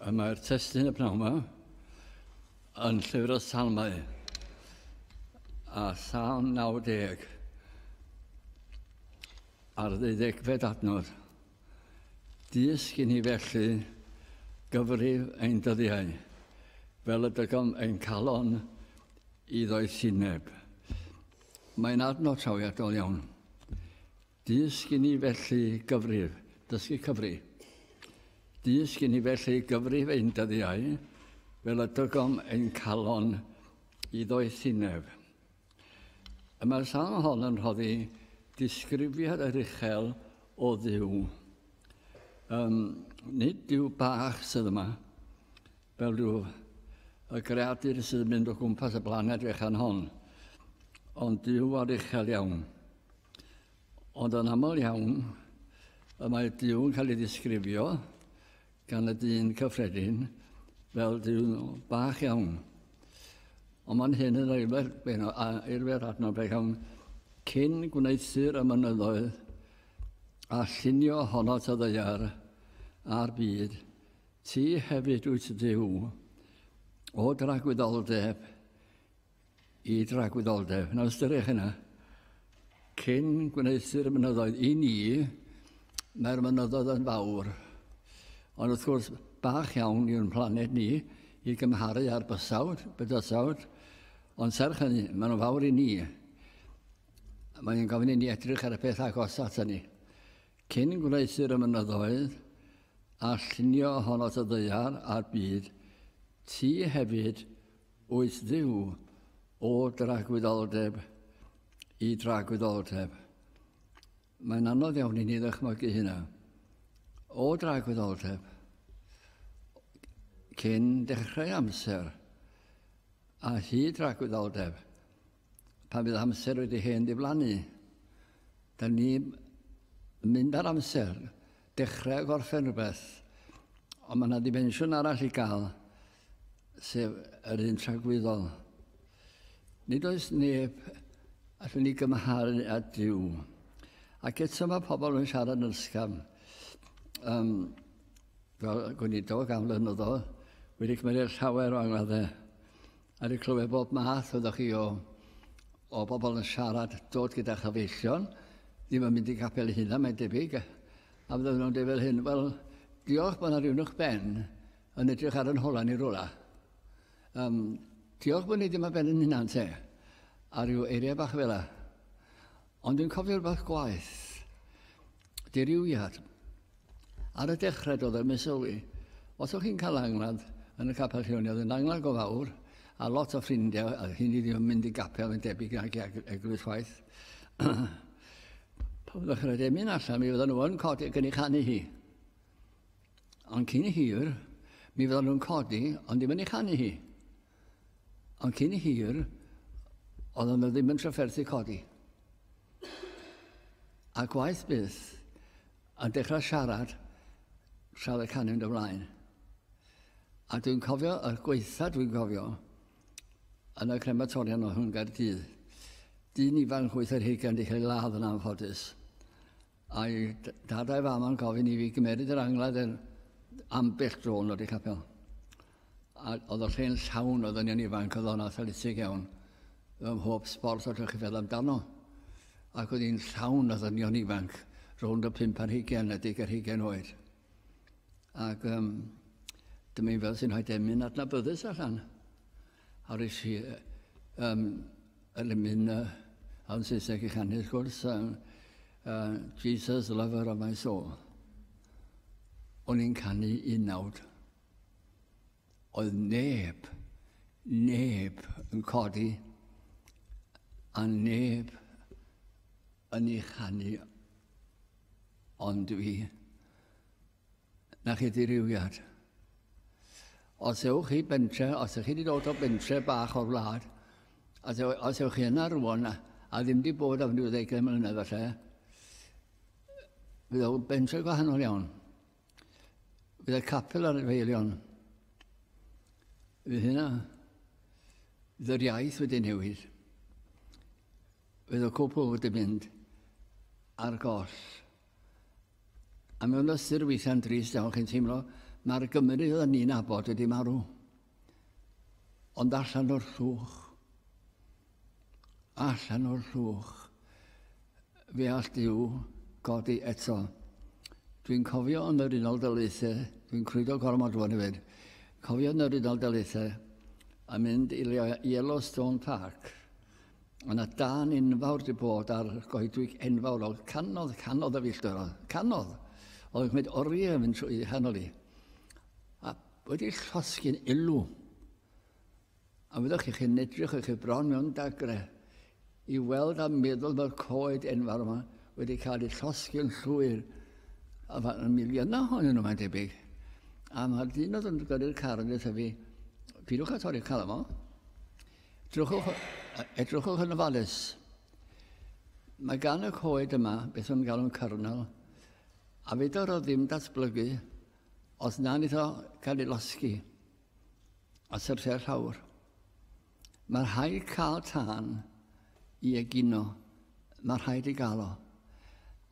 A mae'r testyn y pnawn yma yn llyfr o salmau a salm 90 ar ddeuddegfed adnodd. Dysg i ni felly gyfrif ein dyddiau, fel y dygom ein calon i ddoethineb. Mae'n adnod trawiadol iawn. Dysg i ni felly gyfrif, dysgu cyfri. Dysg i ni felly gyfrif ein dyddiau, fel y dygom ein calon i ddoethineb. Y mae'r salm hon yn rhoddi disgrifiad yr uchel o ddiw. Um, nid yw bach sydd yma, fel rhyw y greadur sydd yn mynd o gwmpas y blaned fechan hon, ond Dyw ar uchel iawn. Ond yn aml iawn, y mae Dyw yn cael ei ddisgrifio gan y dyn cyffredin fel Dyw bach iawn. Ond mae'n hyn yn eilfer, eilfer adnod beth iawn cyn gwneud syr y mynyddoedd A llunio honno ta ddaear a'r byd, ti hefyd wyt Duw, o dragwyddoldeb i dragwyddoldeb. Nawr ystyriwch hynna. Cyn gwneithir y mynyddoedd i ni, mae'r mynyddoedd yn fawr. Ond wrth gwrs, bach iawn yw'n planed ni i gymharu â'r bysawd, bydysawd, ond serch hynny, maen nhw'n fawr i ni. Mae yn gofyn i ni edrych ar y peth agos at ni. Cyn gwneisir y mynyddoedd a llunio hon at y ddeiar a'r byd, ti hefyd wyt ddiw o dragwyddoldeb i dragwyddoldeb. Mae'n anodd iawn i ni ddychmygu hynna. O dragwyddoldeb, cyn dechrau amser, a hyd dragwyddoldeb, pan fydd amser wedi hen diflannu. Da ni mynd ar amser, dechrau gorffen rhywbeth, ond mae yna dimensiwn arall i gael, sef yr un tragwyddol. Nid oes neb allwn ni gymharu â Dyw. Ac eto mae pobl yn siarad yn ysgafn. Um, fel gwneud o gan flynyddol, wedi cymryd llawer o angladdau. A di clywed bob math oeddech chi o, o bobl yn siarad, dod gyda chyfeillion, ddim yn mynd i gapel hynna, mae'n debyg. A fydden nhw'n dweud fel hyn, wel, diolch bod yna rhywun o'ch ben yn edrych ar yn hola ni rola. Um, diolch bod ni ddim ar ben yn hynna, te. A rhyw eiriau bach fel yna. Ond yn cofio rhywbeth gwaith. Diriwiad. Ar y dechrau doedd ddim yn sylwi. Os o'ch chi'n cael angladd yn y capel llewn, oedd yn angladd go fawr, a lot o ffrindiau, a hyn i ddim yn mynd i gapel yn debyg nag i eglwys chwaith. Pan ddechrau ddim yn allan, mi fydden nhw yn codi ac yn ei chanu hi. Ond cyn hir, mi fydden nhw'n codi, ond ddim yn ei chanu hi. Ond cyn hir, oedd yna ddim yn trafferthu codi. A gwaith byth, a dechrau siarad tra oedd y canu'n dy flaen. A dwi'n cofio, y gweitha dwi'n cofio, yn y crematorion o hwn Gaerdydd, dyn ifanc wyth ar hugain wedi cael ei ladd yn anffodus. A'i dad a'i fam yn gofyn i fi gymeryd yr angladd yn ambell dro yn wedi capel. A oedd y lle'n llawn o ddynion ifanc oedd o'n athletig iawn. Fy mhob sport oedd chi'n feddwl amdano. Ac oedd hi'n llawn o ddynion ifanc rownd y pimp ar hugen a dig ar hugen oed. Ac um, dyma i'n fel sy'n rhoi demyn adnabyddus allan. Ar y si, um, yn y mynd, uh, a'n Saesneg i chanu, wrth gwrs, um, uh, Jesus, lover of my soul. O'n i'n canu un nawd. Oedd neb, neb yn codi, a neb yn ei chanu ond dwi. Na chi ddirywiad. Os ewch chi bentre, os ych chi wedi dod o bentre bach o'r wlad, os, ew, os ewch chi yna rwan a, a ddim wedi bod am ryw ddeugain mlynedd falle, bydd o bentre gwahanol iawn. Bydd y capel ar y feilion. Bydd hynna. Bydd yr iaith wedi newid. Bydd y cwpl wedi mynd ar goll. A mewn ystyr weithiau'n drist iawn chi'n teimlo, mae'r Gymru oedden ni'n abod wedi marw. Ond allan o'r llwch, allan o'r llwch, fe all Dyw godi eto. Dwi'n cofio yn yr Unol Daleithiau, dwi'n crwydo gormod rwan i fyd, cofio yn yr Unol Daleithiau a mynd i Yellowstone Park Ond a dan enfawr di bod ar goedwig enfawr, oedd canodd, canodd y filltir, oedd canodd. Oedd yn gwneud oriau yn mynd trwy hanol i. A wedi llosgi'n ilw. A fyddwch chi'ch yn edrych o'ch bron mewn dagre i weld a meddwl mae'r coed enfawr yma wedi cael ei llosgi'n llwyr. A fan y miliynau honyn nhw mae'n debyg. A mae'r dyn oedd yn gyrru'r car yn dweud fi, pidwch a torri'r car yma. Edrychwch, edrychwch yn ofalus. Mae gan y coed yma beth o'n galw'n cyrnel, a fedar o ddim datblygu os na nid o cael ei losgi a syrthiau llawr. Mae rhaid cael tân i egino. Mae rhaid ei gael o.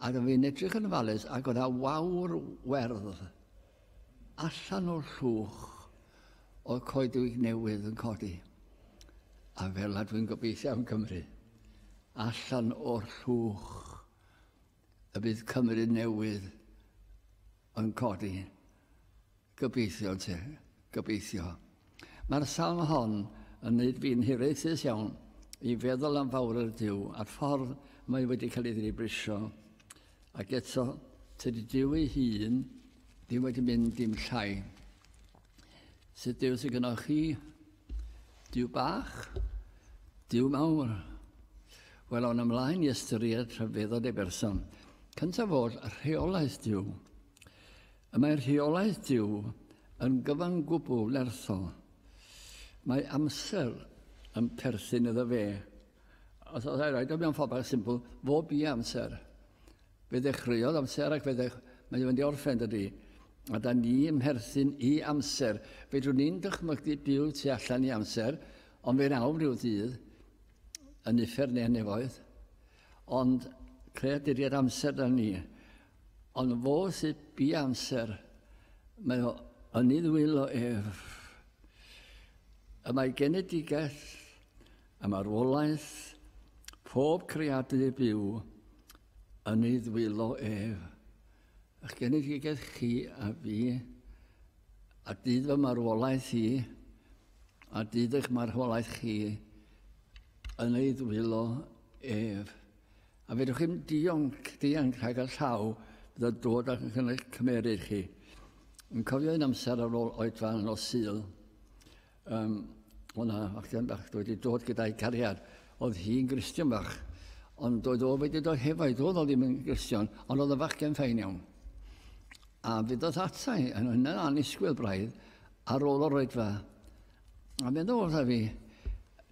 Ac yn fi'n edrych yn falus ac oedd a wawr werdd Allan o'r llwch oedd coedwig newydd yn codi. A fel a dwi'n gobeithio am Gymru, allan o'r llwch y bydd Cymru newydd yn codi. Gobeithio, te. Gobeithio. Mae'r salm hon yn neud fi'n hiraethus iawn i feddwl am fawredd Duw a'r ffordd mae wedi cael ei ddilibrisio. Ac eto, tydi Duw ei hun ddim wedi mynd dim llai. Sut Duw sy'n gynnal chi? Duw bach? Duw mawr? Wel, awn ymlaen i ystyried rhyfeddod ei berson. Cyntaf oll, rheolaeth Duw. Y mae rheolaeth Duw yn gyfan gwbl nerthol. Mae amser yn perthyn iddo fe. Os oes rhaid o mewn ffordd symbol, fo bu amser. Fe ddechreuodd amser ac fe ddech... mae'n mynd i orffen dydy. A da ni yn mherthyn i amser. Fedrwn ni'n dychmygu byw tu allan i amser, ond fe'n awr rhyw ddydd, yn uffern neu yn nefoedd. Ond creaduriaid amser da ni. Ond fo sy bu amser, mae o yn ei ddwylo ef. Y mae genedigaeth, y marwolaeth, pob creadu byw yn ei ddwylo ef. Ych genedigaeth chi a fi, a dyd fy marwolaeth i, a dyd eich marwolaeth chi, yn ei ddwylo ef. A fedrwch i'm dionc, dianc rhag y llaw bydd yn dod ac yn cynnwys cymeryd chi. Yn cofio un amser ar ôl oedfa yn nos syl, um, o'na fachgen bach wedi dod gyda'i cariad. Oedd hi'n gristion bach, ond oedd o wedi dod hefo'i dod o ddim yn gristion, ond oedd y fachgen ffain iawn. A fydd oedd atai yn hynna anisgwyl braidd ar ôl o'r oedfa. A meddwl wrtha fi,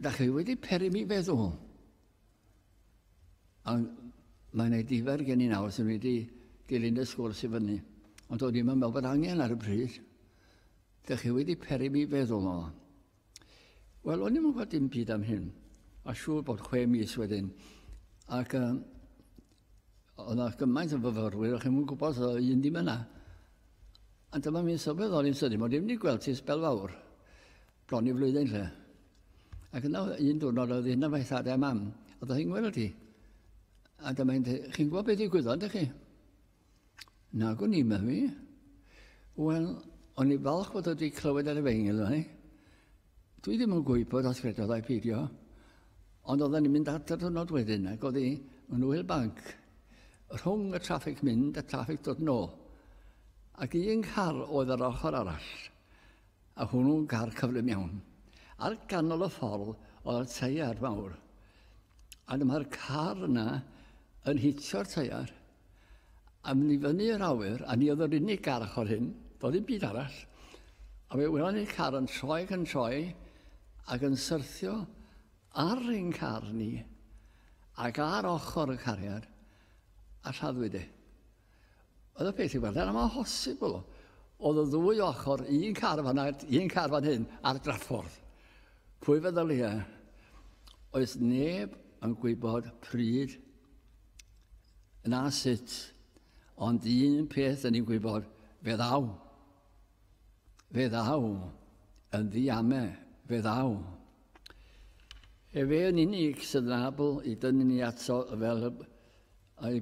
da chi wedi peri mi feddwl. A mae'n ei difer gen i nawr sy'n wedi dilyn y sgwrs i fyny. Ond oedd ddim yn meddwl bod angen ar y bryd. Dych chi wedi peri mi feddwl o. Wel, o'n i'n gwybod dim byd am hyn. A siŵr bod chwe mis wedyn. Ac um, oedd yna gymaint o fyfyrwyr, o'ch chi'n gwybod, oedd un ddim yna. A dyma mi'n sylweddol i'n sydyn, mae ddim wedi gweld ti sbel fawr. Bron i flwyddyn lle. Ac yna un diwrnod oedd un o'r faethadau mam, a ddoth i'n gweld i. A dyma i'n dweud, chi'n gwybod beth ddigwyddodd, ydych chi? Na, gwn i, mae fi. Wel, o'n i falch bod wedi clywed ar y feingil yma. Dwi ddim yn gwybod os credodd ai peidio. Ond oedden ni'n mynd adfer dwrnod wedyn ac oedd hi yn wyl banc rhwng y traffig mynd a traffig dod nôl. Ac un car oedd yr ochr arall. A hwnnw gar cyflym iawn. Ar ganol y ffordd oedd y teiar fawr. A dyma'r car yna yn hitio'r teiar a mynd i fyny yr awyr, a ni oedd yr unig gar ochr hyn, doedd ddim byd arall. A fe welon ni'r car yn troi ac yn troi ac yn syrthio ar ein car ni ac ar ochr y cariad a lladdwyd e. Oedd y peth i weld, yna mae'n hosibl. Oedd y ddwy ochr, un car fan a'r un car fan hyn, ar draffordd. Pwy fe ddylia? Oes neb yn gwybod pryd na sut, ond un peth yn ni'n gwybod, fe ddaw. Fe ddaw, yn ddiame, fe ddaw. Efe yn unig sydd yn abl i dynnu ni ato fel y, y,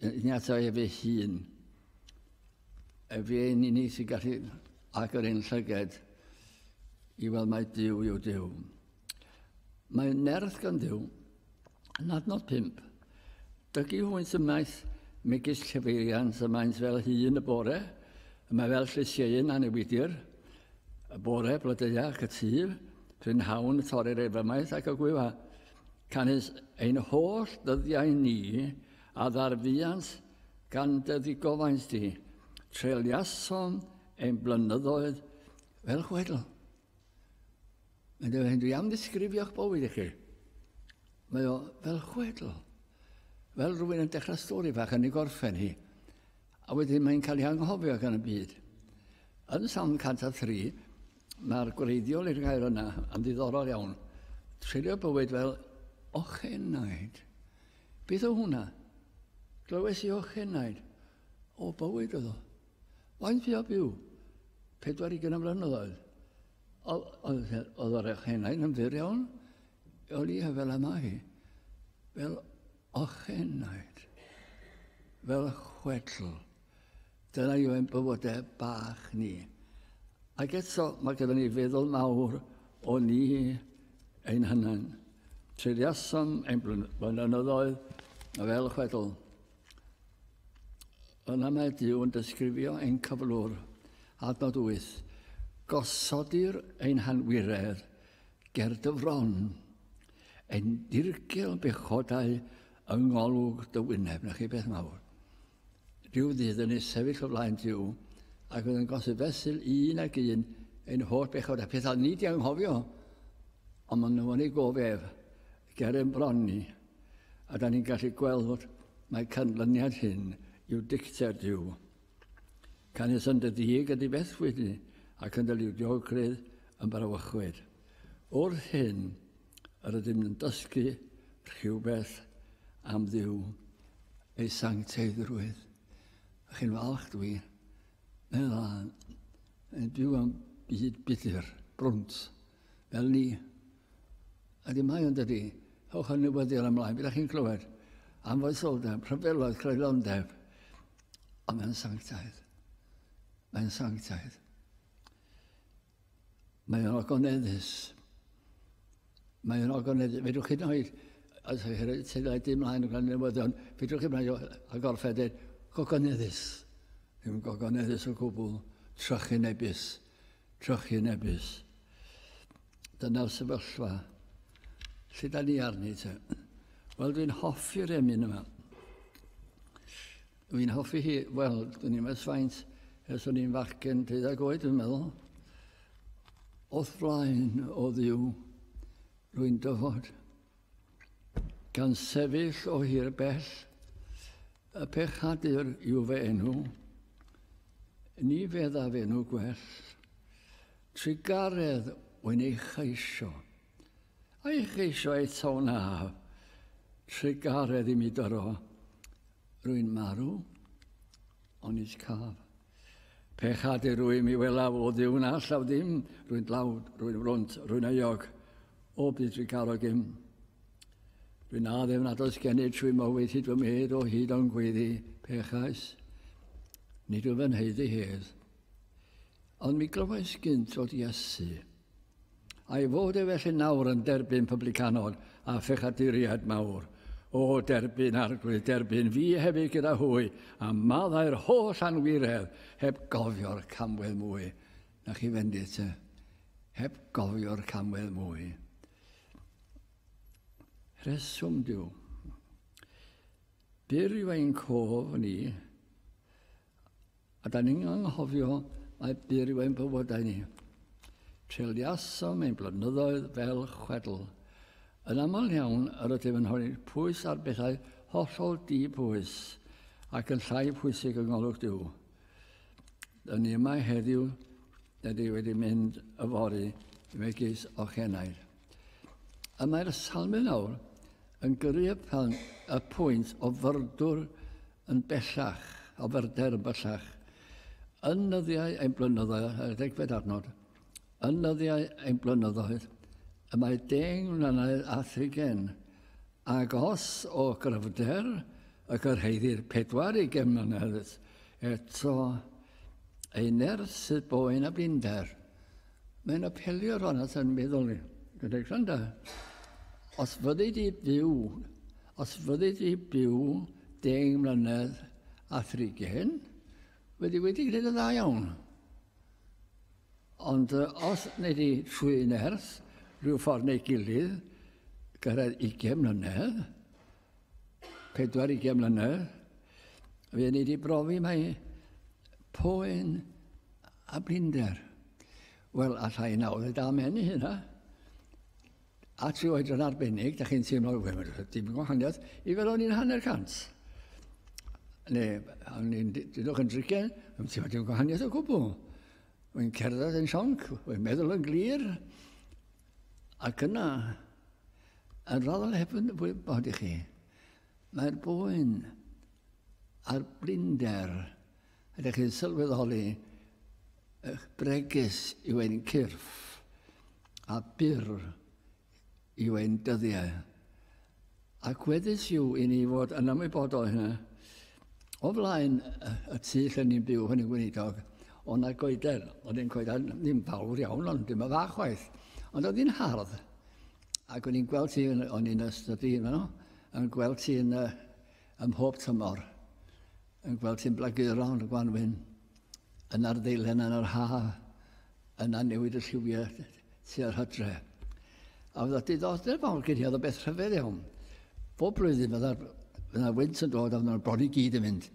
Ni ato ef ei hun. Efe yn unig sy'n gallu agor ein llyged i weld mae Dyw yw Dyw. Mae nerth gan Dyw yn adnod 5. Dygu hwynt ymaith megis cyfeiriant y maent fel hun y bore, y mae fel llysieuyn anewidir, y bore blodeuau ac y tyf, prynhawn y torri'r efymaeth ac y gwyfa. Canys ein holl dyddiau ni A ddarfuant gan dy ddigofaint di, treuliasom ein blynyddoedd fel chwedl. Mae'n dweud hyn, dwi am ddisgrifio'ch bywyd i chi. Mae o fel chwedl. Fel rhywun yn dechrau stori fach yn ei gorffen hi. A wedyn mae'n cael ei anghofio gan y byd. Yn Salm 103, mae'r gwreiddiol i'r gair yna yn ddiddorol iawn. Treulio bywyd fel ochenaid. Beth o hwnna? Glywes i o chenaid. O, bywyd oedd o. Faint fi o byw? 40 o flynyddoedd. Oedd yr ochenaid yn fyr iawn? O lia fel yma hi. Fel ochenaid. Fel chwedl. Dyna yw ein bywydau bach ni. Ac eto, mae gyda ni feddwl mawr o ni ein hynna'n. Tryddiasom ein blynyddoedd fel chwedl. Yna mae Dyw yn disgrifio ein cyflwr, adnod 8. Gosodir ein hanwiredd ger dyfron, ein dirgel bechodau yng ngolwg dy wyneb. Na chi beth mawr. Rhyw ddydd yn ei sefyll o flaen Duw ac oedd yn gosod fesul un ag un ein holl bechod a phethau ni di anghofio. Ond maen nhw yn ei gof ef, ger ein bron ni. A da ni'n gallu gweld fod mae canlyniad hyn yw dicter Duw. Canys yn dy ddig ydy bethwyd ni, ac yn dy liwdiogrwydd yn brawychwyd. Wrth hyn, Yr ydym yn dysgu rhywbeth am ddiw ei sancteiddrwydd. A chi'n falch dwi, mewn dda, yn byw am byd budur, brwnt, fel ni. A di mae ond ydy, hewch yn newyddion ymlaen, byddwch chi'n clywed am foesoldeb, rhyfeloedd, creulondeb, ond mae'n sanctaidd. Mae'n sanctaidd. Mae o'n ogoneddus. Mae o'n ogoneddus. Fedrwch chi ddoi, os ydych chi'n sydd wedi dim mlaen yn gwneud newyddion, fedrwch chi ddoi a gorffed yn gogoneddus. Ddim gogoneddus o gwbl. Trochi nebus. Trochi nebus. Dyna'r sefyllfa. Lle da ni arni te? Wel, dwi'n hoffi'r emyn yma. Dwi'n hoffi hi, wel, dwi'n i'n meddwl faint ers o'n i'n fachgen deuddag oed, dwi'n meddwl. Oth flaen o ddiw, rwy'n dyfod. Gan sefyll o hir bell, y pechadur yw fe enw, ni feddaf enw gwell. Trigaredd wy'n ei chaisio, a'i chaisio eto na. Trigaredd i mi dyro, Rwy'n marw, onid caf. Pe chade rwy mi welaf o ddiw na llaw dim, rwy'n dlawd, rwy'n wrwnt, rwy'n euog, o byd rwy garo gym. Rwy'n addefn nad oes gennyf trwy mywyd hyd fy medd o hyd o'n gweiddi, pechais. Nid wyf yn heiddi hedd. Ond mi glywais gynt o Iesu. Ei fod e felly nawr yn derbyn publicanod a phechaduriaid mawr, o derbyn Arglwydd derbyn fi hefyd gyda hwy, a maddau'r holl anwiredd, heb gofio'r camwedd mwy. Na chi fendith, te? Heb gofio'r camwedd mwy. Rheswm diw. Byr yw ein cof ni, A da ni'n anghofio mae byr yw ein bywydau ni. Treuliasom ein blynyddoedd fel chwedl. Yn aml iawn, yr ydym yn rhoi pwys ar bethau hollol di pwys ac yn llai pwysig yng ngolwg Duw. Yn ni yma heddiw, da ni wedi mynd yfory megis ochenaid. Y mae'r salmyn awr yn gyrru y, pan, y pwynt o fyrdwr yn bellach, o fyrder yn bellach. Yn nyddiau ein blynyddoedd, ar y degfed adnod, yn nyddiau ein blynyddoedd, y mae deng mlynedd a thrigen, ac os o gryfder y gyrhaeddir pedwar i gen mlynedd, eto ei nerth sydd boen a blinder. Mae'n apelio rhan at yn meddwl ni. Gyda granda. Os fyddi di byw, os fyddi di byw deng mlynedd a thrigen, wedi wedi gwneud y dda iawn. Ond os neu di trwy nerth, rhyw ffordd neu gilydd, gyrraedd 20 mlynedd, pedwar i gen mlynedd, fe ni wedi brofi mae poen a blinder. Wel, alla i nawr da menu hynna. A ti oed yn arbennig, da chi'n teimlo, wel, mae'n dim yn gwahaniaeth, i fel o'n i'n hanner cant. Neu, o'n i'n dydwch yn drigen, mae'n teimlo dim gwahaniaeth o gwbl. Mae'n cerdded yn sionc, mae'n meddwl yn glir. Ac yna, Yn rhannol heb yn wybod i chi, mae'r boen a'r blinder ydych chi'n sylweddoli eich bregus yw ein cyrff a byr yw ein dyddiau. Ac weddus yw i ni fod yn ymwybodol hynny. O flaen y tu lle ni'n byw, hynny gweinidog, o na goeden, oedd yn coeden ddim fawr iawn, ond dim y fach chwaith. Ond oedd hi'n hardd. Ac o'n i'n gweld ti, o'n i'n ystod i yno, yn gweld ti yn, uh, ym mhob tymor, yn gweld ti'n blaguro yn y gwanwyn, yn ar ddeilen yn yr ha, yna newid y lliwiau tua'r hydre. A fydda diddordeb fawr gen i, oedd y beth rhyfedd iawn. Bob blwyddyn fydda wynt yn dod a fydda'n bron i gyd yn mynd.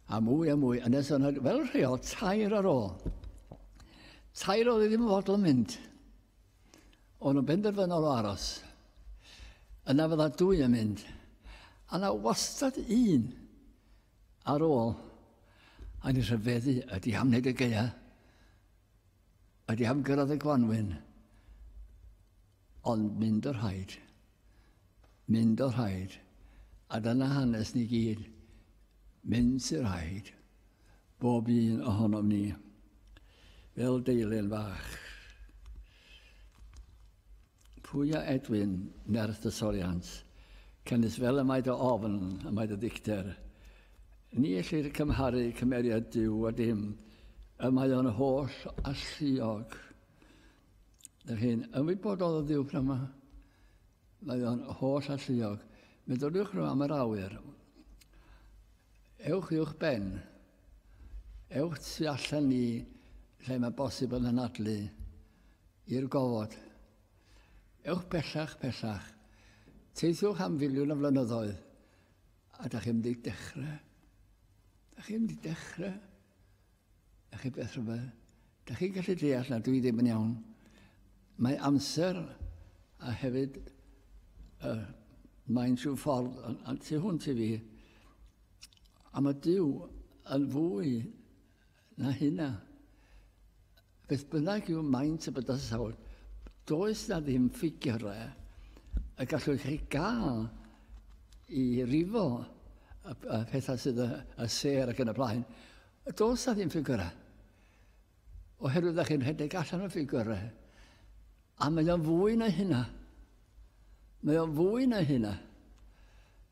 A mwy a mwy, yn nes yna, fel rheol, tair ar ôl. Tair oedd ddim yn fodl yn mynd. O'n nhw'n benderfynol o aros. Yna fydda dwy yn mynd. A na wastad un ar ôl. A ni rhyfeddu ydy am wneud y geia. Ydy am gyrraedd y gwanwyn. Ond mynd o'r rhaid. Mynd o'r rhaid. A dyna hanes ni gyd. Mynd sy'r rhaid. bob un ohonom ni, fel deilyn fach. Pwy a Edwin, nerth y toriant, cynnes fel y mae dy ofn, y mae dy ddicter. Ni ellir cymharu cymeriad Dyw a dim, y mae o'n holl alluog. Yr hyn ymwybodol o ddiw pnawn yma, mae o'n holl alluog. Meddyliwch nhw am yr awyr. Ewch i'wch ben. Ewch tu allan i lle mae bosib yn anadlu i'r gofod. Ewch pellach, pellach. Teithiwch am filiwn o flynyddoedd a da chi'n mynd i dechrau. Da chi'n mynd i dechrau. Dach chi beth rhywbeth? Dach chi'n gallu deall na dwi ddim yn iawn. Mae amser a hefyd uh, mae'n rhyw ffordd a tu hwnt i fi. A mae Dyw yn fwy na hynna. Beth bynnag yw maint y bydysawd, does na ddim ffigurau y gallwch chi gael i rifo y, y pethau sydd y, y ser ac yn y blaen. Does na ddim ffigurau. Oherwydd ydych chi'n rhedeg allan o ffigurau. A mae o'n fwy na hynna. Mae o'n fwy na hynna.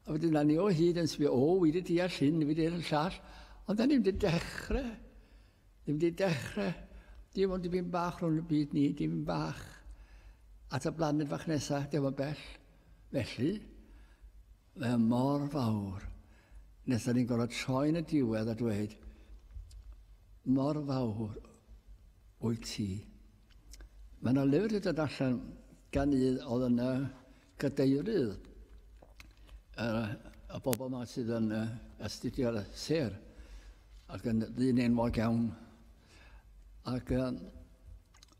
A wedyn ni o hyd yn sbio, o, wedi deall hyn, wedi deall llall, ond da ni'n wedi dechrau Dwi wedi dechrau, dim ond dipyn bach rhwng y byd ni, dipyn bach at y blaned fach nesaf, dim ond bell. Felly, mae mor fawr nes da ni'n gorfod troi yn y diwedd a dweud mor fawr wyt ti. Mae yna lyfr wedi dod allan gan un oedd yna Cadeirydd, uh, y bobl yma sydd yn uh, astudio'r ser ac yn ddyn enwog iawn. Ac uh,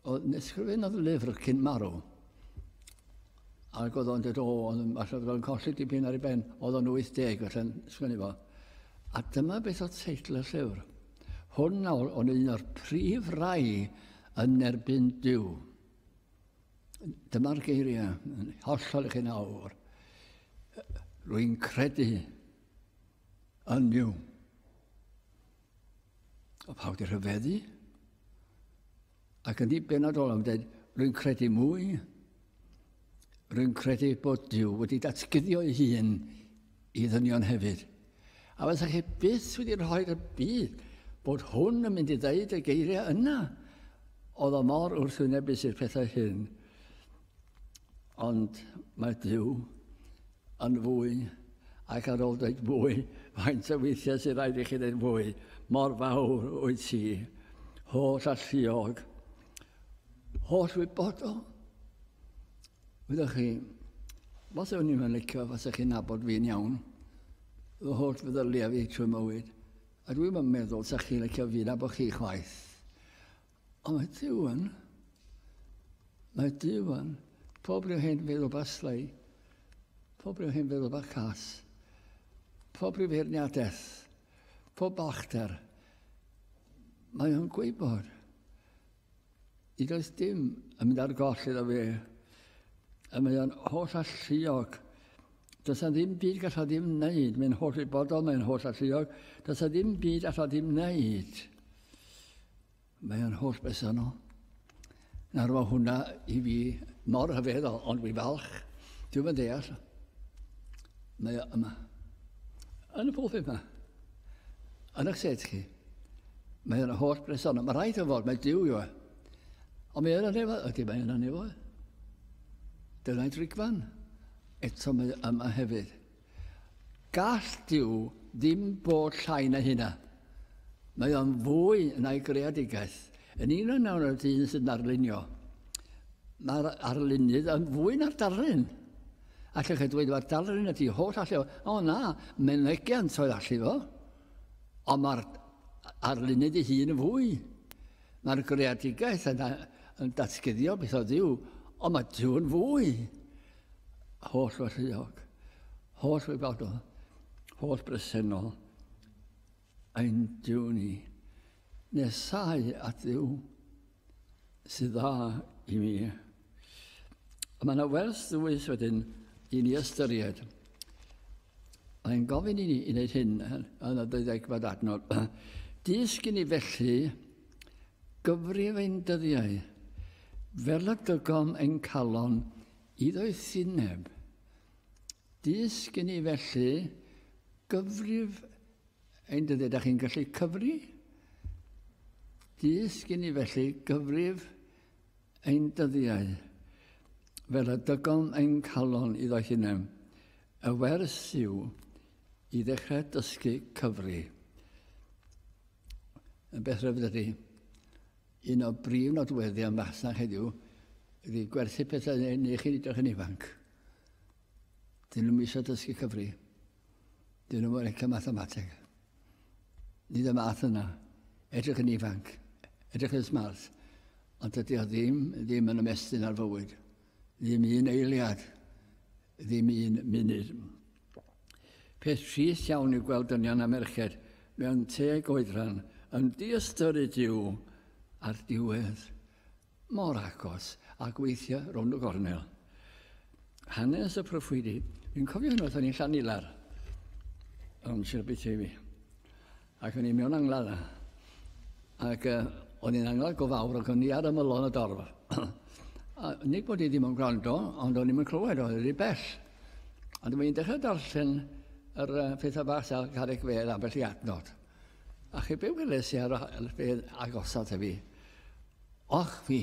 oedd nesgrifennodd lyfr cyn marw. Ac oedd o'n dod o, oedd yn falle bod o'n colli dipyn ar ei ben, oedd o'n 80 felly'n sgwini fo. A dyma beth oedd teitl y llyfr. Hwn nawr o'n un o'r prif rai yn erbyn Dyw. Dyma'r geiriau yn hollol i chi nawr. Rwy'n credu yn niw. A pawb wedi rhyfeddu. Ac yn ei benodol am dweud, rwy'n credu mwy. Rwy'n credu bod Dyw wedi datguddio ei hun i ddynion hefyd. A fyddech chi byth wedi rhoi y byd bod hwn yn mynd i ddeud y geiriau yna. Oedd o mor wrthwynebus i'r pethau hyn. Ond mae Dyw yn fwy ac ar ôl dweud fwy, faint o weithiau sy'n rhaid i chi dweud fwy, mor fawr wyt ti, holl alluog, holl wybodol. Wyddoch chi, os o'n i'n licio fasa chi'n nabod fi'n iawn, fy holl feddyliau fi trwy mywyd, a dwi'n yn meddwl sa chi'n licio fi nabod chi chwaith. Ond mae Dyw yn, mae Dyw yn, pob rhyw hen feddwl baslai, pob rhyw hen feddwl bacas, pob rhyw feirniadaeth, pob balchder, mae o'n gwybod. I does dim yn mynd ar goll iddo fe. A mae o'n holl alluog. Does na ddim byd gall o ddim wneud. Mae'n holl i bodol, mae'n holl alluog. Does na ddim byd all o ddim wneud. Mae o'n holl bersonol. Nawr mae hwnna i fi mor rhyfeddol, ond fi falch. Dwi'n mynd deall. Mae o yma. Yn y pwlpud yma. Yn eich set chi. Mae yna holl bres arno. Mae rhaid o fod, mae diw yw e. Ond mae yna nefo, ydy mae yna nefo e. Dyna'i drigfan. Eto mae yma hefyd. Gall diw ddim bod llai na hynna. Mae o'n fwy na'i greadigaeth. Yn un o'n nawr y dyn sy'n arlunio, mae'r arlunydd yn fwy na'r darlun. Ac ych chi dweud, mae'r darlun ydy holl allu o. O na, menegiant oedd allu fo. Ond mae'r arlunydd ei hun yn fwy. Mae'r greadigaeth yn, yn datguddio beth oedd yw, ond mae Dyw yn fwy. Holl wellheuog, holl wybodol, holl bresennol, ein Dyw ni. Nesau at Dduw. sydd dda i mi. Mae yna werth ddwys wedyn i ni ystyried. Mae'n gofyn i ni i wneud hyn yn y deuddegfed adnod. Dysg i ni felly gyfrif ein dyddiau fel y dygom ein calon i ddoethineb. Dysg i ni felly gyfrif Ein dyddiau, da chi'n gallu cyfri? Dys gen i felly gyfrif ein dyddiau, fel y dygon ein calon iddo hunain. Y wers yw i ddechrau dysgu cyfri. Yn beth rhyfedd ydy, un o brif nodweddion masnach heddiw ydy gwerthu pethau neu, neu chi'n edrych yn ifanc. Dyn nhw'n misio dysgu cyfri. Dyn nhw'n licio mathemateg. Nid y math yna. Edrych yn ifanc. Edrych yn smart. Ond dydy o ddim, ddim yn ymestyn ar fywyd. Ddim un eiliad. Ddim un munud. Peth trist iawn yw gweld dynion a merched mewn teg oedran yn diystyryd yw ar diwedd Mor agos ag weithio rownd y gornel. Hanes y proffwydi. Fi'n cofio hyn oedd o'n i'n Llanilar. O'n Sir Aberteifi. Ac o'n i mewn anglad. Ac uh, o'n i'n anglad go fawr ac o'n i ar ymylon y dorf. a nid bod i ddim yn gwrando, ond o'n i'n clywed oedd wedi bell. Ond o'n i'n dechrau darllen yr uh, pethau bach ar garreg fedd ambell i adnod. A chi be weles i ar y fedd agosaf fi? Och fi!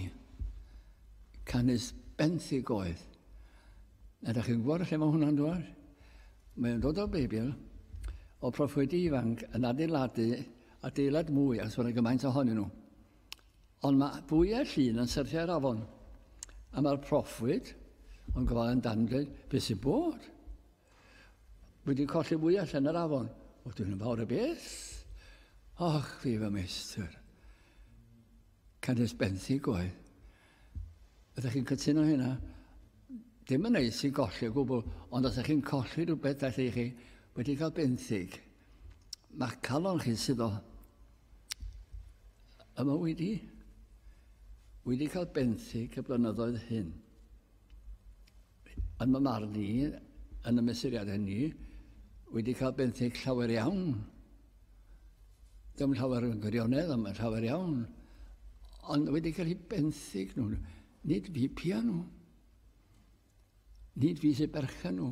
Canys benthyg oedd. A da chi'n gwybod lle mae hwnna'n dod? Mae'n dod o'r Beibl, o proffwydi ifanc yn adeiladu adeilad mwy a sôn gymaint ohonyn nhw. Ond mae bwyau llun yn syrthiau'r afon. A mae'r proffwyd, ond gofal yn dan dweud, beth sy'n bod? Wedi colli fwyell yn yr afon. O, dwi'n yn fawr y beth. Och, fi fy meistr. Canys benthyg oedd. Ydych chi'n cytuno hynna? Dim yn neis i golli o gwbl, ond os ydych chi'n colli rhywbeth allu chi wedi cael benthyg, mae calon chi sydd o yma wedi wedi cael benthyg y blynyddoedd hyn. yn fy marn i, yn y mesuriad hynny, wedi cael benthyg llawer iawn. Ddim llawer yn gwirionedd, ond llawer iawn. Ond wedi cael ei benthyg nhw. Nid fi pia nhw. Nid fi sy'n berchen nhw.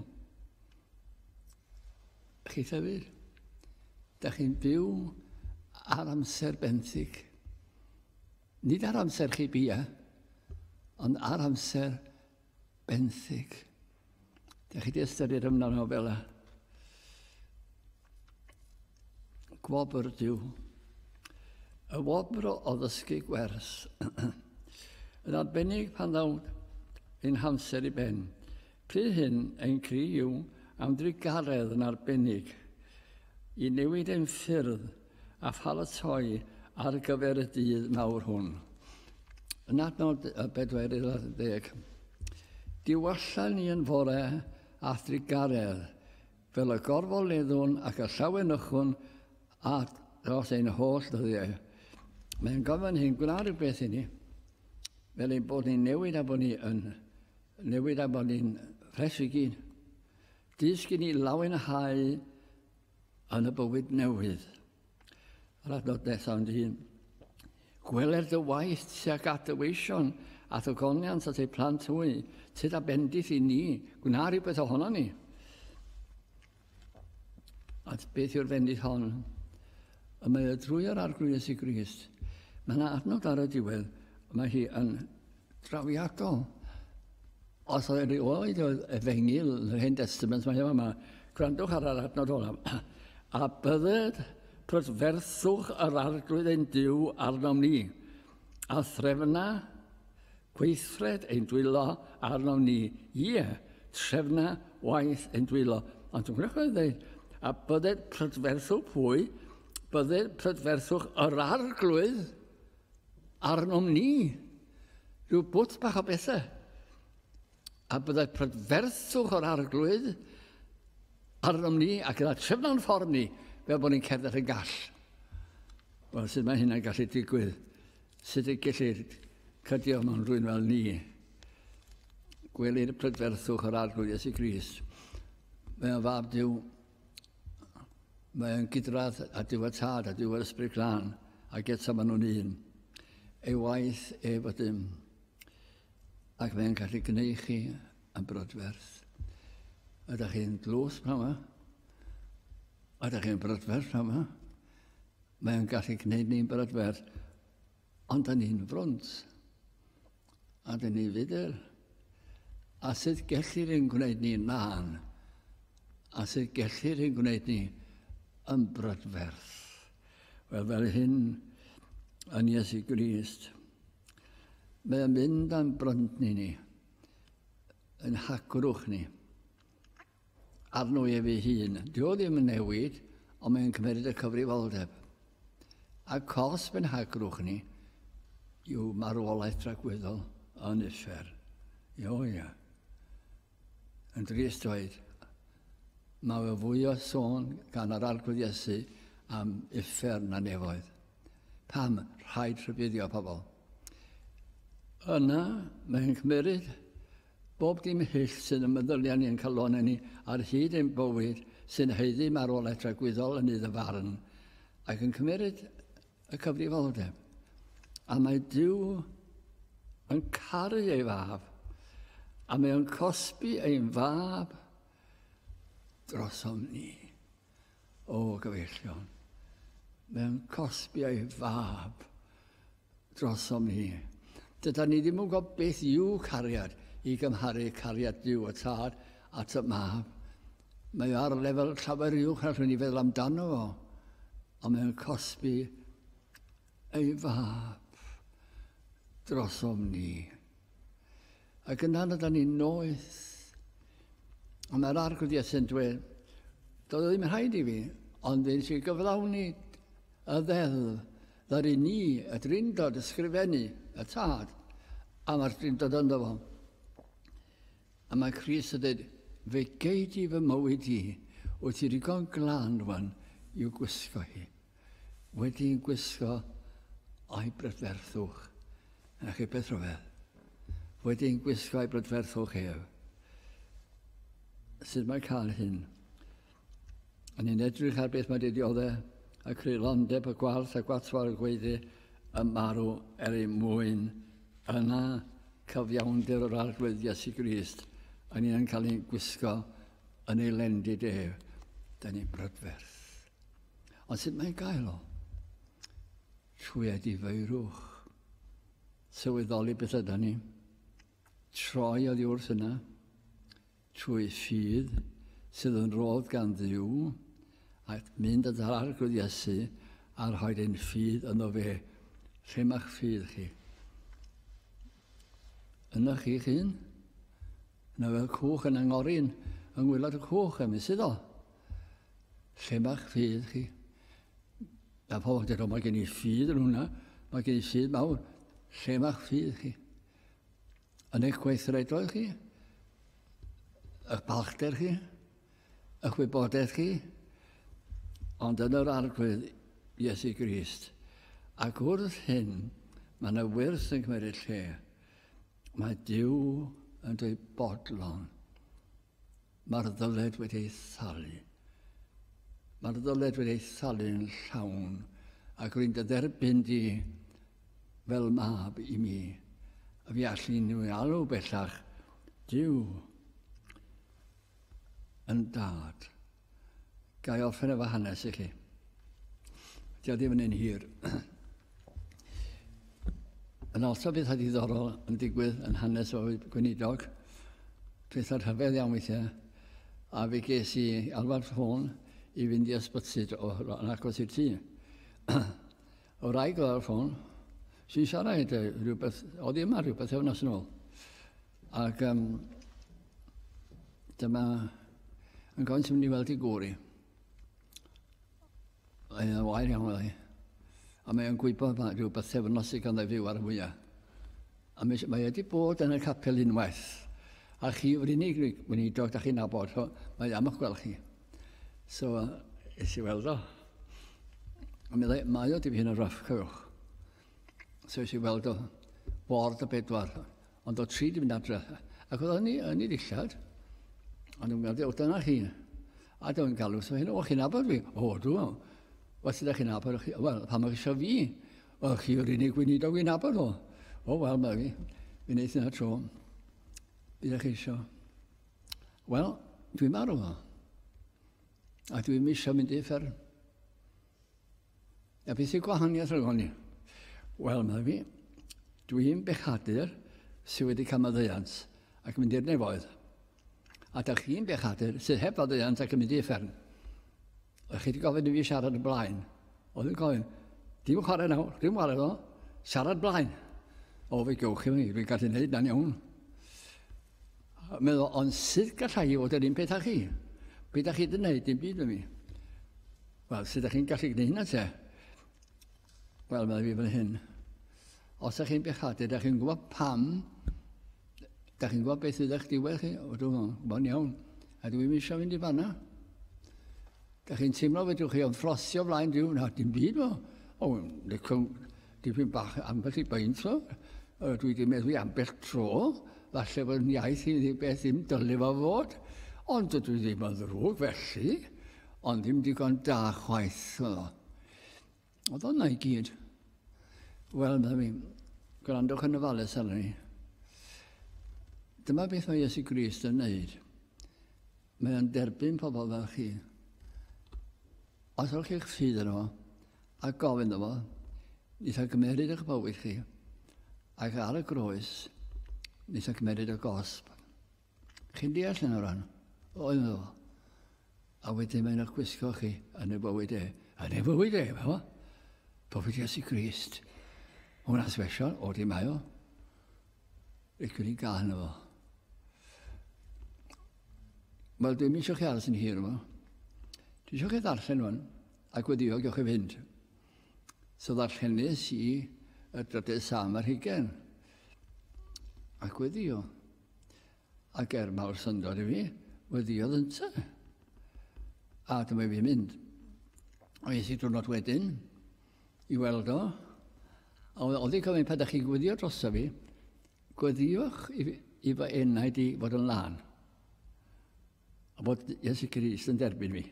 Chi llyfr? Da chi'n byw ar amser benthyg. Nid ar amser chi bia, ond ar amser benthyg. Da chi di ystyried ymwneud nhw fel a gwobr diw. Y wobr o ddysgu gwers. Yn arbennig pan ddawn ein hamser i ben. Pryd hyn ein cri yw am drigaredd yn arbennig i newid ein ffyrdd a pharatoi ar gyfer y dydd mawr hwn. Yn adnod 40. Diwallan ni yn fore a thrigaredd, fel y gorfoleddwn ac y llawenychwn at dros ein holl ddyddiau. Mae'n gofyn hyn gwna rhywbeth i ni, fel ein bod ni'n newid a bod ni yn newid a bod ni'n ffres i gyd. Dysgu ni lawenhau Yn y bywyd newydd, yr adnod nesaf yn dyn. Gweler dy waith tuag at dy weision a dy goniant at ei plant hwy, tyd a bendith i ni, gwna rhywbeth ohono ni. At beth yw'r bendith hon? Y mae y drwy yr arglwys i Grist. Mae yna adnod ar y diwedd, mae hi yn drawiadol. Os oedd erioed oedd efengyl yn yr Hen Testament, mae yma, gwrandwch ar yr adnod olaf, a bydded prydferthwch yr arglwydd ein Dyw arnom ni, a threfna gweithred ein dwylo arnom ni, ie, trefna waith ein dwylo. Ond dwi'n gwneud dweud, a bydded prydferthwch pwy, bydded prydferthwch yr arglwydd arnom ni rhyw bwt bach o bethau, a byddai prydferthwch o'r arglwydd arnom ni ac yna trefna'n ffordd ni fel bod ni'n cerdded yn gall. Wel, sut mae hynna'n gallu digwydd? Sut y gellir cydio mewn rhywun fel ni? Gwelir y prydferthwch o'r arglwydd Iesu Gris. Mae o'n fab Dyw Mae'n gydradd a diwedd tad a diwedd ysbryd glân, ac eto maen nhw'n un. Ei waith ei fod dim, ac mae'n gallu gwneud chi yn brodferth. Ydych chi'n dlws pan yma? Ydych chi'n brodferth pan yma? Mae'n gallu gwneud ni'n brodferth, ond da ni'n frwnt. A dyn ni fydel. A sut gellir ein gwneud ni nan? A sut gellir ein gwneud ni yn brydferth? Wel, fel hyn yn Iesu Grist, mae'n mynd am brynt ni ni, yn hacrwch ni. arno ef ei hun. Dio ddim yn newid, ond mae'n cymryd y cyfrifoldeb. A cos benhagrwch ni yw marwolaeth dragwyddol yn uffern. Io, ia. Yn drist dweud, mae fe fwy o sôn gan yr arglwydd Iesu am uffern na nefoedd. Pam rhaid rhybuddio pobl? Yna mae'n cymryd Bob dim hyll sy'n y meddylia ni yn calonau ni ar hyd ein bywyd sy'n haeddu marwolaeth dragwyddol yn iddo farn ac yn cymeryd y cyfrifoldeb. A mae Duw yn caru ei fab a mae o'n cosbi ein fab drosom ni. o gyfeillion mewn cosbi ei fab drosom hi. Dyda ni ddim yn gwybod beth yw cariad i gymharu cariad Duw y Tad at y mab. Mae o ar lefel llawer uwch na rhywun i feddwl amdano fo, ond mewn cosbi ei fab drosom ni. Ac yna ydan ni'n noeth. A mae'r arglwydd Iesu'n dweud, doedd ddim rhaid i fi, ond nes i gyflawni y ddeddf ddaru ni, y drindod, ysgrifennu y tad, a mae'r drindod ynddo fo. A mae Cris yn dweud, fe gei di fy mywyd i, wyt ti ddigon glan rwan i'w gwisgo hi. Wedi'n gwisgo eu brydferthwch, a chi beth rhyfedd, wedi'n gwisgo eu brydferthwch ef, sut mae cael hyn? Yn ni'n edrych ar beth mae wedi diodde, y creulondeb, y gwarth, y gwatwar, y gweiddi, y marw er ei mwyn, yna cyfiawnder yr Arglwydd Iesu Grist, yn ni'n cael ein gwisgo yn ei lendid ef, da ni'n brydferth. Ond sut mae'n gael o? Trwy edifeirwch. Sylweddoli beth yda ni. Troi oddi wrth yna. Trwy ffydd sydd yn rodd gan ddiw a mynd at yr arglwydd Iesu a rhoi ein ffydd yno fe. Lle mae'ch ffydd chi? Yna chi'ch hun? Yna fel cwch yn angorin yng ngwylod y cwch, ymwys iddo. Lle mae'ch ffydd chi? Mae pobl yn dweud, mae gen i ffydd yn hwnna, mae gen i ffydd mawr. Lle mae'ch ffydd chi? Yn eich gweithredoedd chi? Ych balchder chi? Ych wybodaeth chi? Ond yn yr arglwydd Iesu Grist. Ac wrth hyn, mae yna wyrth yn cymryd lle. Mae Dyw yn dweud bodlon. Mae'r ddyled wedi ei thalu. Mae'r ddyled wedi ei thalu'n llawn, ac rwy'n dy dderbyn di fel mab i mi. A fi allu nhw i alw bellach, Dyw yn dad. Gai offer efo hanes i chi? Dio ddim yn un hir. Yn ôl to bethau diddorol yn digwydd yn hanes o'r gweinidog, pethau rhyfedd iawn weithiau, a fe ges i alwad ffôn i fynd i ysbyty yn agos i'r tŷ. o rai gyda'r ffôn, sy'n siarad rhywbeth, oedd i yma rhywbeth efo'n yn ôl. Ac um, dyma yn gofyn sy'n mynd i weld i gwr i. Mae'n wair iawn oedd hi. A mae'n gwybod mae rhyw bythefnos sydd ganddo fyw ar y mwyaf. A mae, mae wedi bod yn y capel unwaith. A chi yw'r unig weinidog da chi'n nabod, so mae am eich gweld chi. So, es i weld o. A meddai, mae o dipyn yn rough, cofiwch. So es i weld o, bord y bedwar, Ond oedd tri di mynd adre. Ac oedd hynny yn ei ddillad. Ond yn gwneud, o dyna chi. A dyn nhw'n galw, so hyn, o chi'n abod fi? O, dwi. Wel, sydd ydych chi'n abod? Wel, pa mae eisiau fi? Wel, chi yw'r unig weinidog fi'n abod o. O, wel, mae fi. Fi'n neud yna tro. Bydd eich eisiau. Wel, dwi'n marw o. A dwi'n eisiau mynd i fferm. A beth yw gwahaniaeth rhwng hynny? Wel, mae fi, dwi'n bechadur sydd wedi cael maddeuant ac yn mynd i'r nefoedd. A da chi'n bechadur sydd heb faddeuant ac yn mynd i effern. A chi wedi gofyn i fi siarad y blaen. Oedd yn gofyn, dim chwarae nawr, dim chwarae ddo, siarad blaen. O, fe gewch chi mi, fi'n gallu gwneud na'n iawn. Meddwl, ond sydd gallai i fod yr un peth â chi? Beth da chi wedi gwneud, dim byd yn mi. Wel, sut ydych chi'n gallu gwneud hynna te? Wel, mae fi fan hyn. Os ydych chi'n bechadu, ydych chi'n gwybod pam, ydych chi'n gwybod beth fydd eich diwedd chi, o dwi'n gwybod iawn, a dwi'n eisiau mynd i fanna. Ydych chi'n teimlo fedrwch chi o'n ffrosio flaen diw, na dim byd o. O, licwn, dipyn bach ambell i baint o. Dwi wedi meddwl ambell tro, falle bod yn iaith i ni beth ddim dylai fo fod, ond dydw i ddim yn ddrwg felly. Ond ddim digon da chwaith oedd o. Oedd o'na i gyd. Wel, meddwl mi, gwrandwch yn y fales arno ni. Dyma beth mae Iesu Grist yn neud. Mae o'n derbyn pobl fel chi. Os o'ch chi'ch ffydd yn o, a gofyn o fo, nes a gymeryd eich bywyd chi, ac ar y groes, nes a gymeryd y gosb. Chi'n deall yn o ran? Oedd nhw. A wedyn mae'n eich gwisgo chi yn y bywyd e. Yn y bywyd e, fo. Pobyd Iesu Grist. Hwna'n sbesial, o di mae o. Rydw i'n gael hynny fo. Wel, dwi'n mynd eisiau chi aros yn hir yma. Dwi eisiau chi ddarllen hwn, a gweddio gewch chi fynd. So ddarllenis i y drydydd sam ar hugen. A gweddio. Ac er mawr syndod i fi, weddiodd ynte. A dyma fi'n mynd. A es i diwrnod wedyn i weld o. A oedd i'n gofyn pa da chi'n gweddio droso fi, gweddiwch i, i fy enaid i fod yn lân. A bod Iesu Grist yn derbyn fi.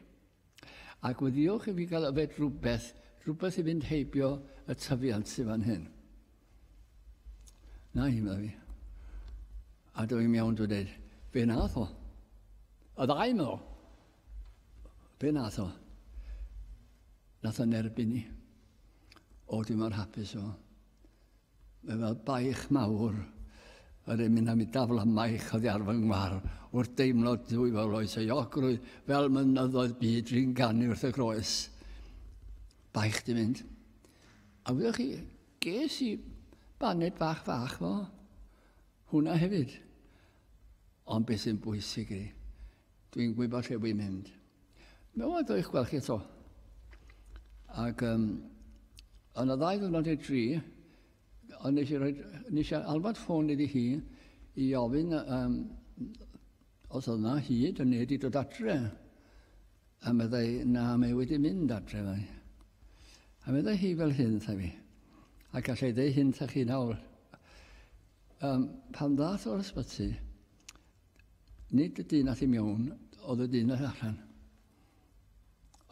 Ac weddiwch i fi gael yfed rhywbeth, rhywbeth i fynd heibio y tyfiant sydd fan hyn. Na hi, meddwl fi. A dwi i'n iawn dwi'n dweud, be nath o? Y ddau meddwl. Be nath o? Nath o'n erbyn ni. O, dwi'n mor hapus o. Mae fel baich mawr yr emyn am i dafla maich oddi ar fy ngwar wrth deimlo dwy fel oes ei ogrwydd fel mynyddoedd byd dwi'n ganu wrth y groes. Baich di mynd. A wyddoch chi, ges i baned bach fach fo hwnna hefyd. Ond beth sy'n bwysig i, Dwi'n gwybod lle wy'n mynd. Mae'n waith o'ch gweld chi eto. Ac um, yn y ddau ddwrnod neu dri, ond nes i, roi, nes i alwad ffôn iddi hi i ofyn um, os oedd yna hyd yn nid i dod adre. A meddai, na, mae wedi mynd adre fai. A meddai hi fel hyn, tha fi. A gallai ddeu hyn tha chi nawr. Um, pan ddath o'r ysbyty, Nid y dyn a thi mewn, oedd y dyn a thi allan.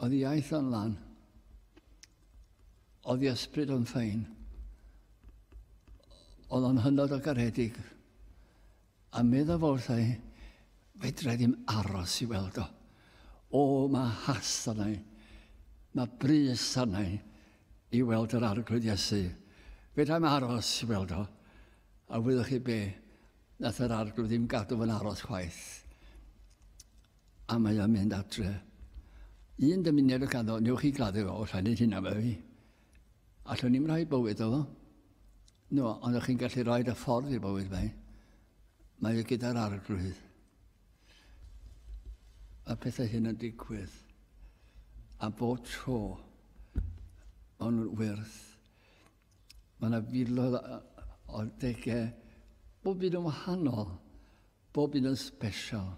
Oedd iaith o'n lan. Oedd i ysbryd o'n ffein. Oedd o'n hynod o garedig. A meddaf wrthau, fedra i ddim aros i weld o. O, mae has arnau. Mae brys arnau i weld yr arglwydd Iesu. Fedra i'm aros i weld o. A wyddwch chi be? Nath yr arglwydd ddim gadw fo'n aros chwaith. A mae o'n mynd adre. Un dymuniad o ganddo, newch chi gladdu fo, os rhaid hynna fe fi. Allwn ni'n rhoi bywyd o fo. No, ond o'ch chi'n gallu rhoi y ffordd i'r bywyd fe. Mae o gyda'r arglwydd. A pethau hyn yn digwydd. A bob tro, o'n nhw'n wyrth. Mae yna filoedd o degau, bob un yn wahanol, bob un yn special,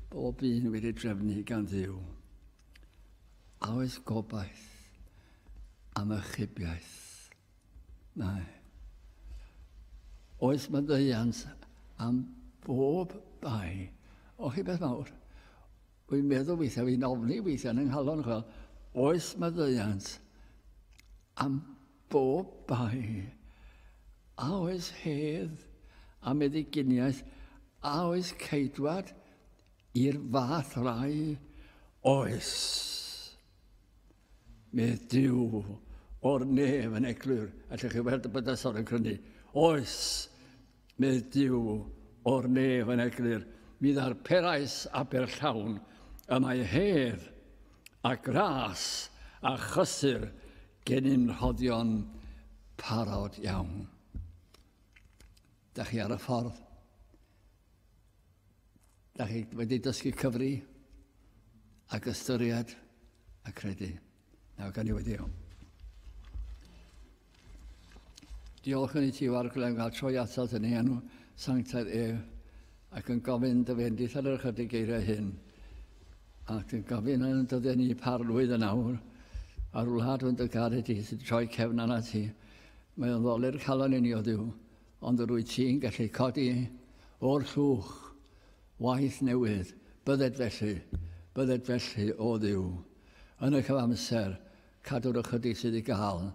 bob un wedi drefnu gan ddiw. A oes gobaith am ychybiaeth? Mae. Oes maddeiant am bob bai? O chi beth mawr? Wi'n meddwl weithiau, fi'n ofni weithiau yn yng nghalon, chwel, oes maddeuant am bob bai, a oes hedd a meddyginiaeth, a oes ceidwad i'r fath rai, oes. Mae Dyw o'r nef yn eglur, allwch chi weld y bydysor yn crynu, oes. Nid yw o'r nef yn eglur, mi ddarperais Aberllawn y mae hedd, a gras, a chysur gennym rhoddion parod iawn. Da chi ar y ffordd? Da chi wedi dysgu cyfri ac ystyried a credu? Nawr gan i wedi iawn. Diolch yn ei ti o'r glem gael troi atat yn ei enw sanctaidd ef ac yn gofyn dy fendith ar yr ychydig geiriau hyn ac yn gofyn yn dyddiau ni par lwydd yn awr a'r wlad yn dy gared ti sy'n troi cefn arna ti mae o'n ddoli'r calon i ni o ddiw ond yr wyt ti'n gallu codi o'r llwch waith newydd bydded felly bydded felly o ddiw Yn y cyfamser, cadw'r ychydig sydd i gael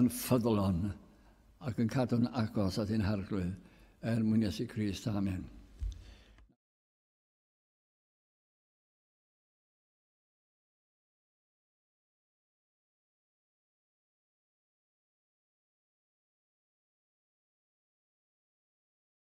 yn ffyddlon ac yn cadw'n agos at ein Harglwydd, er mwyn Iesu Grist. Amen.